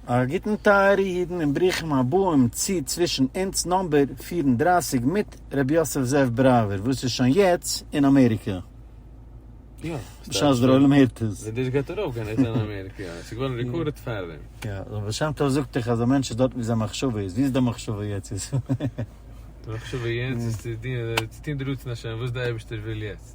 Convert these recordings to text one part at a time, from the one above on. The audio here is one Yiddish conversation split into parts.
א גוטן טייערע אידן און ברוכים הבאים צו צווישן אונז נאמבער פֿיר און דרײַסיק מיט ר' יוסף זאב בראווער וואס איז שוין יעצט אין אמעריקא בשעת דער עולם הערט עס. די דיש גייט ארויף גיין יעצט אין אמעריקע יא עס איז געווארן ריקארדעד פארדעם. יא דער בעל שם טוב זאגט דאך אז א מענטש איז דארטן ווי זיין מחשבה איז, ווי איז דיין מחשבה יעצט? די מחשבה יעצט איז צו טון די רצון השם וואס די אייבערשטער וויל יעצט.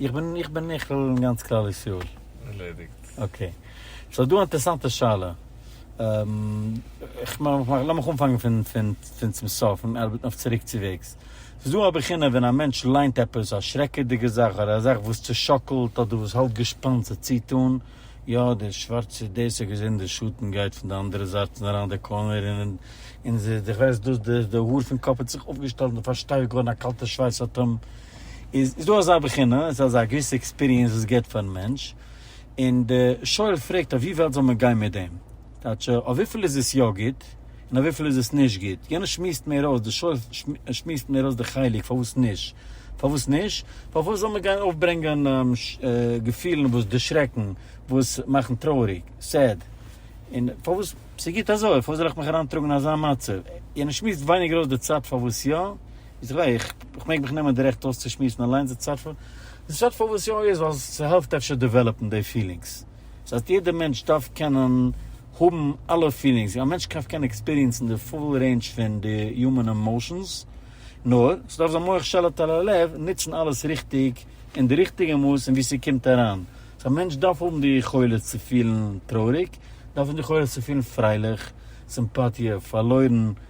איך בין איך בין נכלל אין גאנץ כלל ישראל. ערלעדיגט. אקעי. סאו דא א אינטערעסאנטע שאלה. איך מאך מאך לאמיך אנפאנגען פון פון פון צום סוף און ארבעטן אויף צוריקצוועגס. ס'איז דא א בחינה ווען א מענטש ליינט עפעס א שרעקעדיגע זאך אדער א זאך וואס צושאקלט אדער וואס האלט געשפאנט זיך צו טון, יא דער שווארצער דאס האט געזען דער שטן גייט פון די אנדערע זייט פון אריין די קארנער און און זיך די כ'ווייס דאס די האר פון קאפ האט זיך אויפגעשטעלט און פארשטייוועט געווארן א קאלטע שווייס האט אים איז איז דא אזא בחינה, איז אזא געוויסע עקספיריענס וואס געט פארן מענטש, און די שואל פרעגט אויף ווי וועלט זאל מען גיין מיט דעם, טייטש אויף וויפיל איז עס יא גוט, און אויף וויפיל איז עס נישט גוט, יענער שמועסט מער אויס, די שואל שמועסט מער אויס די חלק פארוואס נישט, פארוואס נישט? פארוואס זאל מען גיין אויפברענגען געפילן וואס דערשרעקן, וואס מאכן טרויעריג, סעד, און פארוואס ס'איז גוט אזוי, פארוואס זאל איך מיך אריינטראגן אין אזא מצב, יענער שמועסט ווייניגער אויס די צד פארוואס יא, איז ר' איך מעג מיך נעמען די רעכט אויסצושמועסן אליינס די צד פון די צד פון וואס יא איז ווייל ס'העלפט אפשר דעוועלאפן די פילינגס סאיז אז יעדע מענטש דארף קענען האבן אלע פילינגס א מענטש קען קען עקספיריענסן די פול רעינדזש פון די יומען עמאושענס נאר ס'דארף זיין מוח שליט על הלב נוצן אלעס ריכטיג אין די ריכטיגע מאס און ווי ס'קומט אריין סאיז א מענטש דארף האבן די יכולת צו פילן טרויעריג דארף האבן די יכולת צו פילן פרייליך סימפאטיע פארלוירן.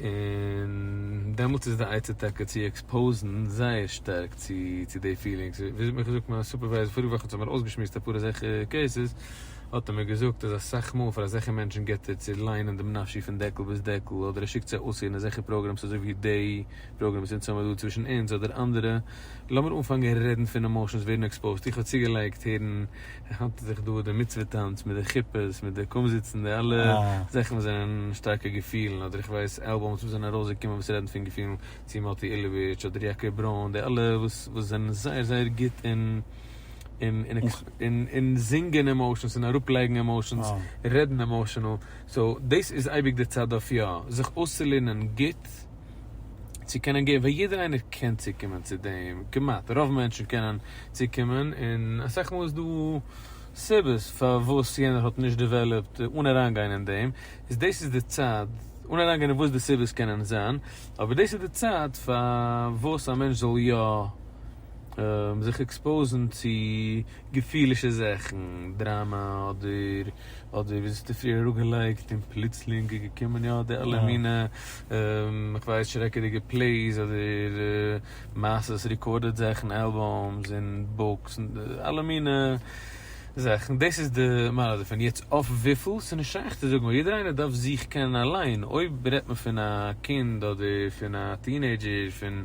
און דעמאלטס איז די עצה טאקע צו עקספאוזן זייער שטארק צו צו די פילינגס, ווי האט מיר געזאגט מיין סופערווייזער פאריגע וואך וואס האט מיר אויסגעשמועסט אפאר אזעלכע קעיסעס, האט ער מיר געזאגט אז אסאך מאל פאר אזעלכע מענטשן גיבט ער צו ליינען דעם נפשי פון דעקל ביז דעקל, אדער ער שיקט זיי אויסהערן אזעלכע פראגראמס אזוי ווי די פראגראם וואס אונז האבן דא צווישן אונז אדער אנדערע, לאמיר אנפאנגען רעדן פון עמאושענס ווערן עקספאוזט, איך האב צוגעלייגט הערן. איך האלט זיך דא די מצוה טאנץ מיט די כיפות מיט די קומזיצן די אלע זאכן וואס זענען שטארקע געפילן אדער איך ווייס אלבום'ס וואס זענען ארויסגעקומען וואס רעדן פון געפילן צו מאטי אילוביטש אדער יעקב ברוין די אלע וואס וואס זענען זייער זייער גוט אין אין אין אין זינגען עמאושענס און אראפ לייגן עמאושענס רעדן עמאושענעל סאו דאס איז אייביג די צד אויף יא זיך אויסצולערנען גוט. צו קענען געבן, ווייל יעדער איינער קען צוקומען צו דעם, כמעט, רוב מענטשן קענען צוקומען, און אסאך מאל איז דא סיבות פארוואס יענער האט נישט דעוועלאפט, אן אריינגיין אין דעם, איז דאס איז די צייט, אן אריינגיין אין וואס די סיבות קענען זיין, אבער דאס איז די צייט פארוואס א מענטש זאל יא זיך עקספאוזן צו געפילישע זאכן, דראמא אדער אדער ווי זיסטו פריער אראפגעלייגט און פלוצלינג איז געקומען יא די אלע מינע איך ווייס שרעקעדיגע פלעיס אדער מעשות ריקארדעד זאכן אלבום'ס און בוקס און אלע מינע זאכן דאס איז די מעלה דערפון יעצט אויף וויפיל ס'איז נישט שייך צו זאגן ווייל יעדער איינער דארף זיך קענען אליין אויב רעדט מען פון א קינד אדער פון א טינעידזשער פון.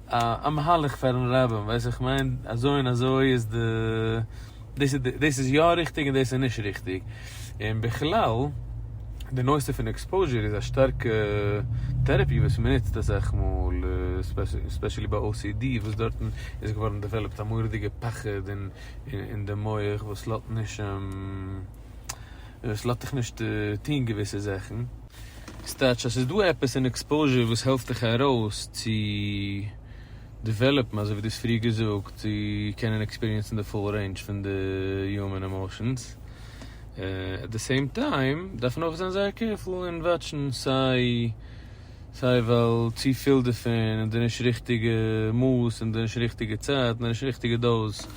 א מהלך פארן רבין ווייס איך מיין אזוי און אזוי איז די דאס איז דאס איז יא ריכטיג און דאס איז נישט ריכטיג און בכלל די נושא פון עקספאוזשער איז א שטארקע טערעפי וואס מען נוצט אסאך מאל ספעשעלי ביי ocd וואס דארטן איז געווארן דעוועלאפט א מורא'דיגע פחד אין אין די מח וואס לאט נישט וואס לאט דיך נישט טון געוויסע זאכן. סטעטש אז ס'איז דא עפעס אין עקספאוזשער וואס העלפט דיך ארויס צו דעוועלאפן אזוי ווי דו האסט פריער געזאגט צו קענען עקספיריענסן די פול רעינדזש פון די יומען עמאושענס. עט די סעים טיים דארף מען אויך זיין זייער קעירפול און וואטשן סיי סיי ווייל צו פיל דערפון און די נישט ריכטיגע מאס און די נישט ריכטיגע צייט און די נישט ריכטיגע דאוז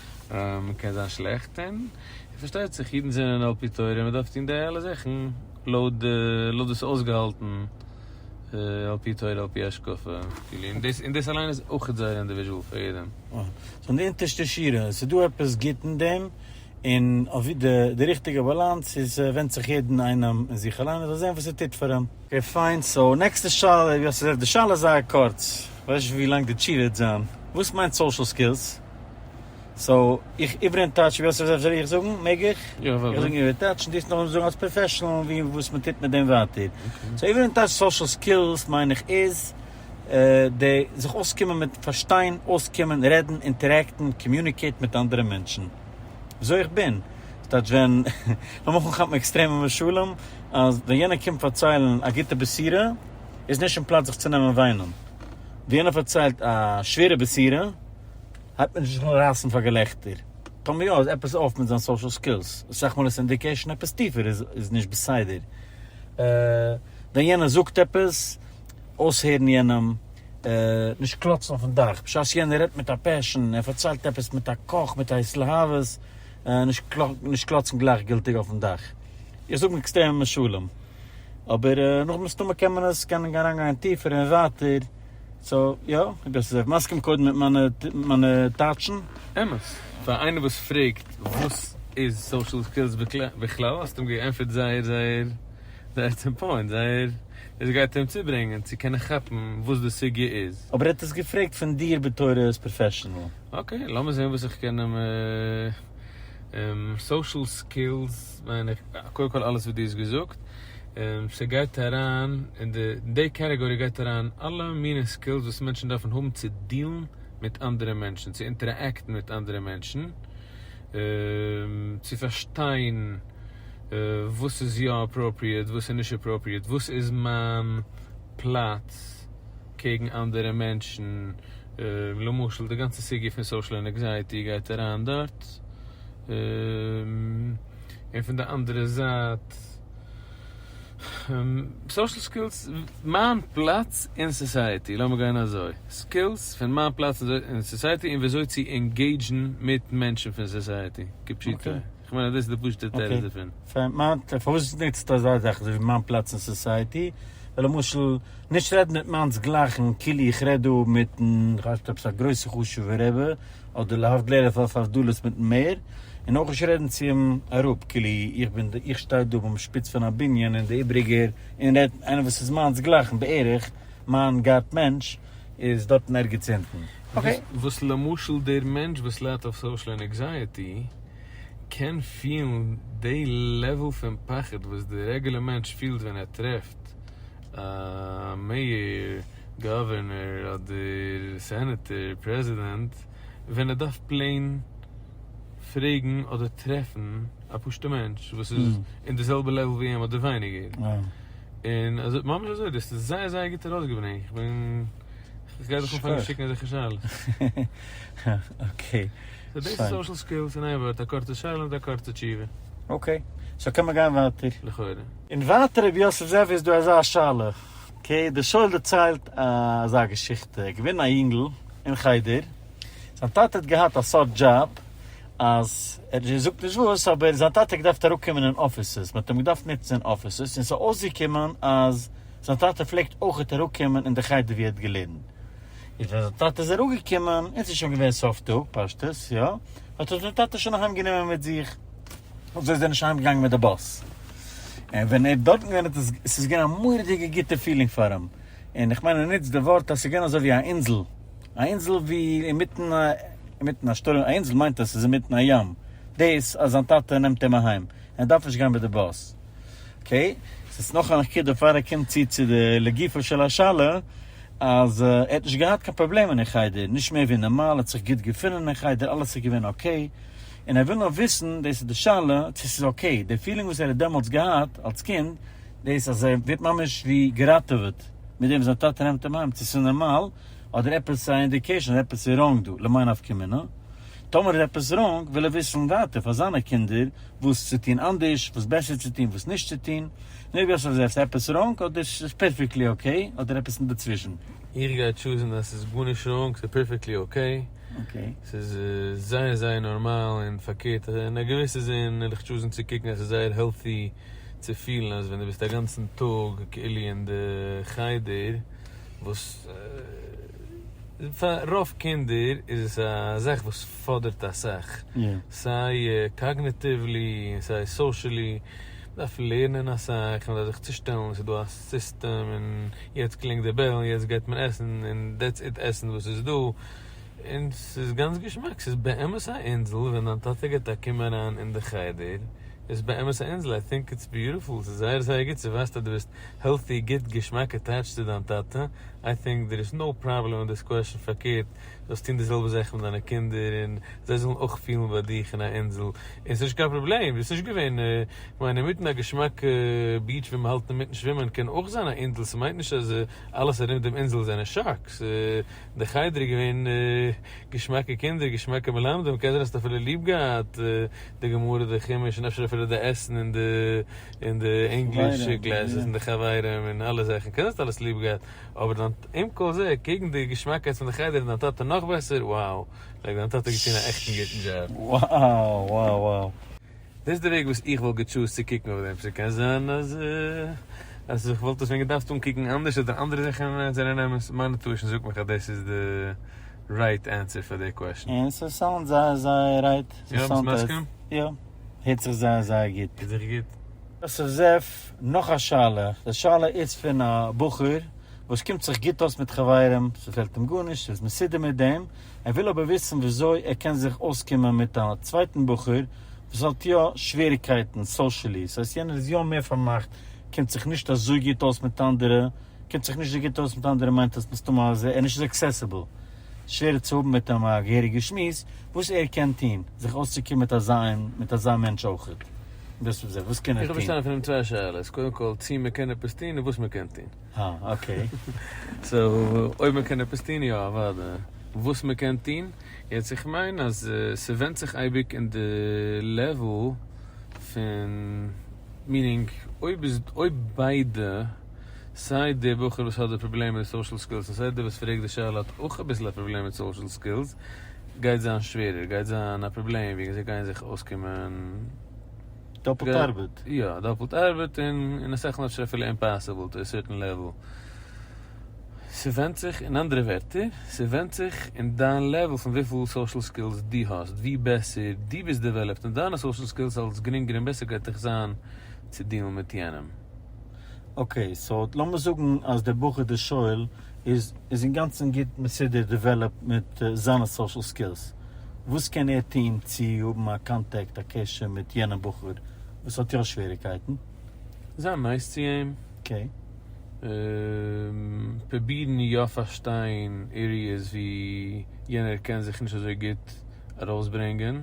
קען זיין שלעכט און און פארשטייט זיך אידן זענען על פי תורה און מ'דארף טון די אלע זאכן לויט די לויט וואס אויסגעהאלטן על פי תורה על פי השקפה כאילו און דאס און דאס אליין איז אויכעט זייער אינדיוויזשעל פאר יעדעם. אה. סאו אין די אונטערשטע שורה עס איז דא עפעס גוט אין דעם און אויף ווי די די ריכטיגע באלאנס איז ווענדט זיך יעדן איינעם אין זיך אליין ער זאל זען וואס עס טוט פאר אים. אקעי פיין, סאו נעקסטע שאלה, ווי האסט געזאגט די שאלה איז זייער קורץ, כ'ווייס נישט ווי לאנג די תשובה וועט זיין, וואס מיינט סאושעל סקילס? סאו איך איבער אין טייטש ווי אסאך זאכן זאל איך זאגן? מעג איך? יא וואדע. איך זאג איבער טייטש און דו זאלסט נאכדעם זאגן אלס פראפעשענעל ווי און וואס מען טוט מיט דעם ווייטער. סאו איבער אין טייטש סאשעל סקילס מיין איך איז די זיך אויסקומען מיט פארשטיין, אויסקומען, רעדן, אינטערעקטן, קאמיוניקעיט מיט אנדערע מענטשן וויאזוי איך בין. דאס טייטש ווען, לאמיר אנכאפן עקסטרעמע משלים, אז ווען יענער קומט פארציילן א גוטע בשירה איז נישט אין פלאץ זיך צו נעמען וויינען. ווען יענער פארציילט א שווערע בשירה. הייבט מען זיך אן רייסן פאר געלעכטער, טאמער יא איז עפעס אויף מיט זיין סאושעל סקילס, אסאך מאל איז אינדיקעישן עפעס טיפער איז נישט בסדר, ווען יענער זאגט עפעס, אויסהערן יענעם, נישט קלאצן אויפן דאך בשעת יענער רעדט מיט א פעשן, ער פארציילט עפעס מיט א קאך מיט א התלהבות, נישט קלאצן גלייכגילטיג אויפן דאך, איך זאג עקסטרעמע משלים, אבער נאך מסתמא קען מען עס אריינגיין טיפער און ווייטער. סא יא, איך בין זיך מסכים קודם מיט מיינע טייטשן. אמת. פאר איינער וואס פרעגט וואס איז סאושעל סקילס בכלל האסטו אים געענטפערט זייער זייער זייער צום פוינט, זייער עס גייט אים צוברענגען צו קענען כאפן וואס די סוגיא איז. אבער ער האט עס געפרעגט פון דיר בתור עז פראפעשענעל. אקעי, לאמיר זעהן וואס איך קען אים סאושעל סקילס. יעצט מיין איך קודם כל אלעס וואס דו האסט געזאגט, און ס'גייט אריין אין די, אין די קעטעגארי גייט אריין אלע מיני סקילס וואס מענטשן דארפן האבן צו דיעלן מיט אנדערע מענטשן, צו אינטערעקטן מיט אנדערע מענטשן, צו פארשטיין וואס איז יא אפראפריעט וואס איז נישט אפראפריעט, וואס איז מיין פלאץ קעגן אנדערע מענטשן, למשל די גאנצע סוגיא פון סאושעל ענעקזייעטי גייט אריין דארט. און פון די אנדערע זייט סאושעל סקילס, מיין פלאץ אין סאסייעטי, לאמיר גיין אזוי, סקילס פון מיין פלאץ אין סאסייעטי און ווי אזוי צו ענגעידזשן מיט מענטשן פון סאסייעטי, כפשוטו, איך מיין אז דאס איז די פשוטע תירוץ דערפון. פארוואס נוצט אזא זאך אזוי ווי מיין פלאץ אין סאסייעטי, ווי למשל נישט רעדן מיט מיינס גלייכן כאילו איך רעד דא מיטן, כ'ווייס נישט אויב ס'איז א גרויסע חשובע רבי, אדער להבדל ער פארט פאר דלות מיטן מער, און אויך נישט רעדן צו אים אראפ כאילו איך בין די איך שטיי דא ביים שפיץ פון א בנין און די איבריגער און רעדט איינער וואס איז מיינס גלייכן בערך, מיין גאט מענטש איז דארטן ערגעץ אונטן. אקעי. וואס למשל דער מענטש וואס ליידט אויף סאושל ענעקזייעטי קען פילן די לעוועל פון פחד וואס די רעגולער מענטש פילט ווען ער טרעפט א מעיאר, גאווערנער אדער סענעטער, פרעזידענט, ווען ער דארף פלעין פרעגן אדער טרעפן א פשוטע מענטש וואס איז אין די זעלבע לעוול ווי אים אדער ווייניגער, און אזוי ממש אזוי, דו האסט עס זייער זייער גוט ארויסגעברענגט, איך בין, איך גיי דיך אנפאנגען שיקן אזעלכע שאלות. אקעי, פיין. סאו דאס איז סאושעל סקילס אין איין ווארט, א קורצע שאלה מיט א קורצע תשובה. אקעי, סאו קען מען גיין ווייטער? לכאורה. און ווייטער רבי יוסף זאב איז דא אזא שאלה כ ק דער שואל דערציילט אזא געשיכטע, ער איז געווען א יונגל אין חדר, זיין טאטע האט געהאט א סארט דזשאב אז ער זאגט נישט וואס אבער זיין טאטע האט געדארפט אראפקומען אין אפיסעס, מען האט אים געדארפט נוצן אין אפיסעס, און ס'איז אויסגעקומען אז זיין טאטע פלעגט אויכעט אראפקומען אין די חדר ווי ער האט געלערנט, איז ווען זיין טאטע איז אראפגעקומען און ס'איז שוין געווען סוף טאג פשטות, יא, האט עס זיין טאטע שוין אהיימגענומען מיט זיך. אזוי איז ער נישט אהיימגעגאנגען מיט די באס, און ווען ער האט דארטן געווען האט עס, עס איז געווען א מורא'דיגע גוטע פילינג פאר אים, און איך מיין ער נוצט די ווארט אז עס איז געווען אזוי ווי א אינזל, א אינזל ווי אינמיטן א, אינמיטן א שטורעם, א אינזל מיינט אז עס איז אינמיטן א ים, דאס אז זיין טאטע נעמט אים אהיים, און ער דארף נישט גיין מיט די באס. אקעי, עס איז נאך א נקודה פאר ער קומט צו צו די לגופו של השאלה, אז ער האט נישט געהאט קיין פראבלעמען אין חדר, נישט מער ווי נארמאל, ער האט זיך גוט געפונען אין חדר, אלעס איז געווען אקעי, און ער וויל נאר וויסן, דאס איז די שאלה, צו ס'איז אקעי, די פילינג וואס ער האט דעמאלטס געהאט אלס קינד, דאס אז ער ווערט ממש ווי געראטעוועט מיט דעם וואס זיין טאטע נעמט אים אהיים, צו ס'איז נארמאל, אדער עפעס א אינדיקעישאן אז עפעס איז ראנג דא, למאי נפקא מינה? טאמער איז עפעס ראנג, וויל ער וויסן ווייטער פאר זיינע קינדער, וואס צו טון אנדערש, וואס בעסער צו טון, וואס נישט צו טון, און אויב יא, סאו איז עפעס ראנג, אדער ס'איז פערפעקטלי אקעי, אדער עפעס אינדערצווישן. איך גיי טשוזן אז ס'איז גארנישט ראנג, ס'איז פערפעקטלי אקעי. אקעי. ס'איז זייער זייער נארמאל און פארקערט אין א געוויסע זין וועל איך טשוזן צו קוקן אז ס'איז זייער העלטי צו פילן אז ווען דו ביסט אגאנצן טאג כאילו אין די חדר וואס פאר רוב קינדער איז עס א זאך וואס פאדערט אסאך סיי קאגנעטיוולי און סיי סאושעלי מ'דארף לערנען אסאך מ'דארף זיך צושטעלן ס'איז דא א סיסטעם און יעצט קלינגט די בעל און יעצט גייט מען עסן און דעטס איט עסן וואס איז דא. און ס'איז גאנץ געשמאק, ס'איז באמת א אינזל, ווען דיין טאטע גייט א קום אריין אין די חדר, איז באמת א אינזל, איי טינק איטס ביוטיפול, ס'איז זייער זייער גוט, ס'ווייזט אז דו ביסט העלטי, גוט, געשמאק אטעטשט צו דיין טאטע, איי טינק דער איז נאו פראבלעם אין דיס קוועשן, פארקערט, דו זאלסט טון די זעלבע זאך מיט דיינע קינדער, און זיי זאלן אויך פילן ביי דיך אין א אינזל, און ס'איז נישט קיין פראבלעם, ביסט נישט געווען, כ'מיין אינמיטן א געשמאקע ביעטש ווי מ'האלט אינמיטן שווימען קען אויך זיין א אינזל, ס'מיינט נישט אז אלעס ארום דעם אינזל זענען שאקס. דער חדר איז געווען געשמאקע קינדער, געשמאקע מלמדים, כעזר האסט אפילו ליב געהאט די גמרא, די חומש, און אפשר אפילו די עסן און די און די ענגליש קלעסעס און די חברים און אלע זאכן, כעזר האסט אלעס ליב געהאט, אבער דיין עם כל זה קעגן די געשמאקייט פון די חדר און דיין טאטע נאך בעסער, wow! לייק דיין טאטע האט געטון א עכטן גוטן דזשאב. Wow wow wow. דאס איז די וועג וואס איך וואלט געטשוזט צו קוקן אויף דעם פסוק, קען זיין אז אז איך וואלט עס ווען געדארפט אנקוקן אנדערש אדער אנדערע זאכן זענען אמת, מיינע טוישן זאגט מיך אז דאס איז די רייט ענסער פאר די קוועשן. און ס'סאונד זייער זייער רייט. יא? ביסט מסכים? יא. הערט זיך זייער זייער גוט. הערט זיך גוט. יוסף זאב, נאך א שאלה, די שאלה איז פון א בחור וואס קומט זיך גוט אויס מיט חברים, ס'פעלט אים גארנישט, ס'איז מסודר מיט דעם, ער וויל אבער וויסן וויאזוי ער קען זיך אויסקומען מיט א צווייטן בחור וואס האט יא שוועריקייטן סאושעלי, ס'הייסט יענער איז יא מער פארמאכט, קומט זיך נישט אזוי גוט אויס מיט אנדערע, קומט זיך נישט אזוי גוט אויס מיט אנדערע מיינט עס מסתמא אז ער איז נישט אזוי עקסעסיבל, שווערער צו האבן מיט אים א געהעריגע שמועס, וואס ער קען טון זיך אויסצוקומען מיט אזא און מיט אזא מענטש אויך, און דאס איז וואס קען ער איך וויל טון? פארשטיין פון דעם צוויי שאלות, קודם כל צו מען קען עפעס טון און וואס מען קען טון. אה, אקעי. סאו אויב מען קען עפעס טון, יא אוודאי. וואס מען קען טון? יעצט איך מיין אז ס'ווענדט זיך אייביג אין די לעוול פון, מינינג, אויב איז, אויב ביידע, סיי די בחור וואס האט די פראבלעם מיט די סאושעל סקילס און סיי די וואס פרעגט די שאלה האט אויך אביסל א פראבלעם מיט סאושעל סקילס, גייט זיין שווערער, גייט זיין א פראבלעם ווי אזוי גייען זיך אויסקומען. דאפלט ארבעט. יא, דאפלט ארבעט און אין אסאך נאטשעס אפילו אימפאסיבל טו א סערטען לעוועל. ס'ווענדט זיך, אין אנדערע ווערטער, ס'ווענדט זיך אין דיין לעוועל פון וויפיל סאושעל סקילס דו האסט, ווי בעסער דו ביסט דעוועלאפט אין דיינע סאושעל סקילס אלס גרינגער און בעסער גייט דיך זיין צו דיעלן מיט יענעם. אקעי סאו לאמיר זאגן אז דער בחור דער שואל איז איז אינגאנצן גוט מסודר דעוועלאפט מיט זיינע סאשעל סקילס, וואס קען ער טוהן צו האבן א קאנטעקט א קשר מיט יענעם בחור וואס האט יא שוועריקייטן? זיין נייס צו אים, אקעי. פרובירן יא פארשטיין עריעס ווי יענער קען זיך נישט אזוי גוט ארויסברענגען.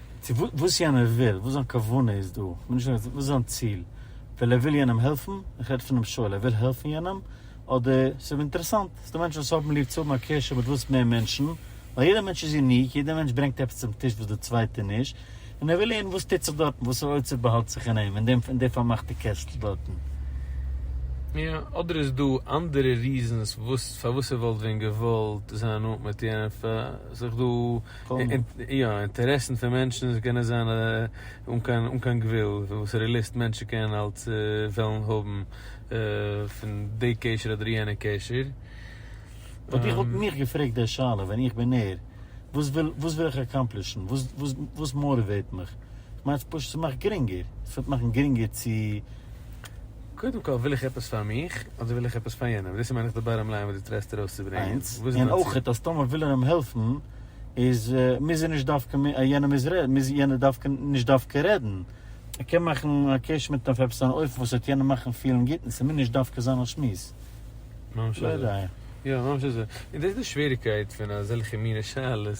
צו וואס יענער וויל, וואס זיין כוונה איז דא, כ'בין נישט אינטערעסירט וואס איז זיין ציל, וויל ער וויל יענעם העלפן, איך רעד פונעם שואל, ער וויל העלפן יענעם, אדער ס'איז אים אינטערעסאנט, ס'דא מענטשן וואס האבן ליב צו האבן א קשר מיט וואס מער מענטשן, ווייל יעדער מענטש איז יוניק, יעדער מענטש ברענגט עפעס צום טיש וואס דער צווייטער נישט, און ער וויל הערן וואס טוט זיך דארטן, וואסערע אוצר באהאלט זיך אין אים, אין דעם, אין די פארמאכטע קעסטל דארטן. יא, אדער איז דא אנדערע ריזענס וואס פארוואס ער וואלט ווען געוואלט זיין נאנט מיט יענעם, פאר זיך דא. יא, אינטערעסן פון מענטשן קענען זיין אן קיין אן קיין גבול, וואסערע ליסט מענטשן קענען אלץ וועלן האבן פון די קשר אדער יענע קשר. וואלט איך וואלט מיך געפרעגט די שאלה ווען איך בין ער, וואס וויל וואס וויל איך אקאמפלישן, וואס וואס וואס מאוטיוועט מיך, איך מיין ס'פשוט ס'מאכט גרינגער, ס'וועט מאכן גרינגער צו. קודם כל וויל איך עפעס פאר מיך, אדער וויל איך עפעס פאר יענעם? דאס איז מיין איך די באטאם ליין וואס דו טרייסט ארויס צו ברענגען. איינס, וואס איז און דיין אויך ציל? אז טאמער וויל ער אים העלפן, איז מוז ער נישט דווקא מ א יענער מוז רעדן, מוז יענער דווקא נישט דווקא רעדן, ער קען מאכן א קעש מיט אים אויף עפעס אן אופן וואס וועט יענעם מאכן פילן גוט און ס'מוז נישט דווקא זיין א שמועס. ממש לא אזוי. יודע. יא, ממש אזוי. און דאס איז די שוועריקייט פון אזעלכע מיני שאלות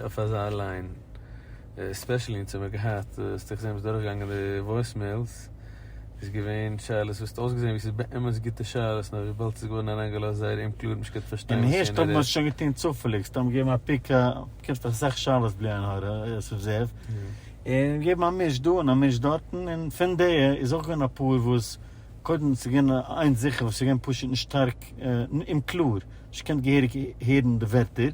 אויף אזא ליין. ספעשעלי אין צומער געהאט האסטו איך זעה ביסט דורך געגאנגען די וואויסמעילס איז געווען שאלות וואס האט אויסגעזען ווי ס'איז באמת גוטע שאלות נאר וויבאלד ס'איז געווארן אריינגעלאזט זייער אומקלאר נישט גוט פארשטיין און הערשט האבן מיר שוין געטון צופעליג סתם געגעבן א פיק קומט דאך אסאך שאלות בלי עין הרע אסף זאב און געבן א מיש דא און א מיש דארטן און פון די איז אויך געווען אפאר וואס קודם ס'איז געווען איינס זיכער וואס ס'איז געווען פשוט נישט שטארק אומקלאר נישט געקענט געהעריג הערן די ווערטער,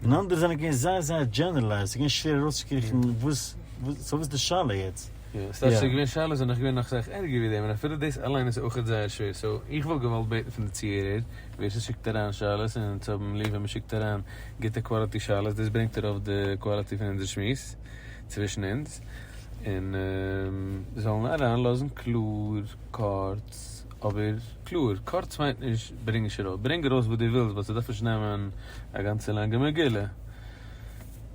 און אנדערע זענען געווען זייער זייער דזשענערלייזד, ס'איז געווען שווער ארויסצוקריכן וואס, וואס, סאו וואס איז די שאלה יעצט? יא, ס'דארף זיך געווען שאלות זענען נאך געווען נאך סאך ערגער ווי דעם, און אפילו דאס אליין איז אויכעט זייער שווער, סאו איך וואלט געוואלט בעטן פון די צוהערער, ווער ס'שיקט אריין שאלות, און אונז האבן ליב ווען מ'שיקט אריין גוטע קוואליטי שאלות, דאס ברענגט ארויף די קוואליטי פון אונזער שמועס צווישן אונז, און זאלן אריינלאזן קלאר, קורץ, אבער קלאר, קורץ מיינט נישט ברענג נישט ארויס, ברענג ארויס וואס דו ווילסט באט ס'דארף נישט נעמען א גאנצע לאנגע מגילה.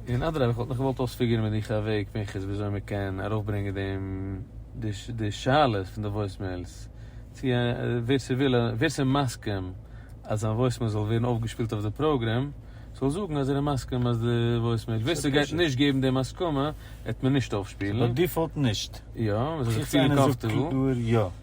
און אדרבה איך וואלט נאך געוואלט אויספיגערן מיט דיך א וועג פנחס וויאזוי מ'קען ארויפברענגען דעם די שאלות פון די וואויסמעילס צו ווער ס'וויל ווער ס'מסכים אז זיין וואויסמעיל זאל ווערן אויפגעשפילט אויף די פראגרעם זאל זאגן אז ער איז מסכים אז די וואויסמעיל ווער ס'גייט נישט געבן דעם הסכמה העט מען נישט אויפשפילן. ס'איז ביי דיפאלט נישט. יא, מ'זאל זיך פירן קאמפטעבל. חוץ איינער זאגט קלאר יא.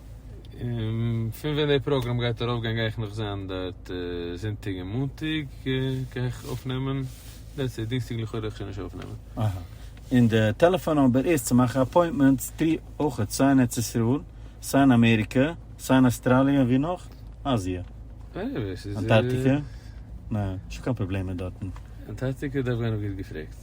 און פון ווען די פראגראם גייט ארויף גיין גיי איך נאך זיין דארט זונטאג און מאנטאג גיי איך אויפנעמען, דעטס איט, דינסטאג לכאורה וועל איך שוין נישט אויפנעמען. אהא. און די טעלעפאן נומבער איז צו מאכן אפוינטמענטס טרי אויכעט סיי אין ארץ ישראל, סיי אין אמעריקע, סיי אין אסטראליע און ווי נאך? אזיע? עניוועי ס'איז. אנטארטיקע? נע, נישט קיין פראבלעמען דארטן. אנטארטיקע דארף גיין אויף גוט געפרעגט.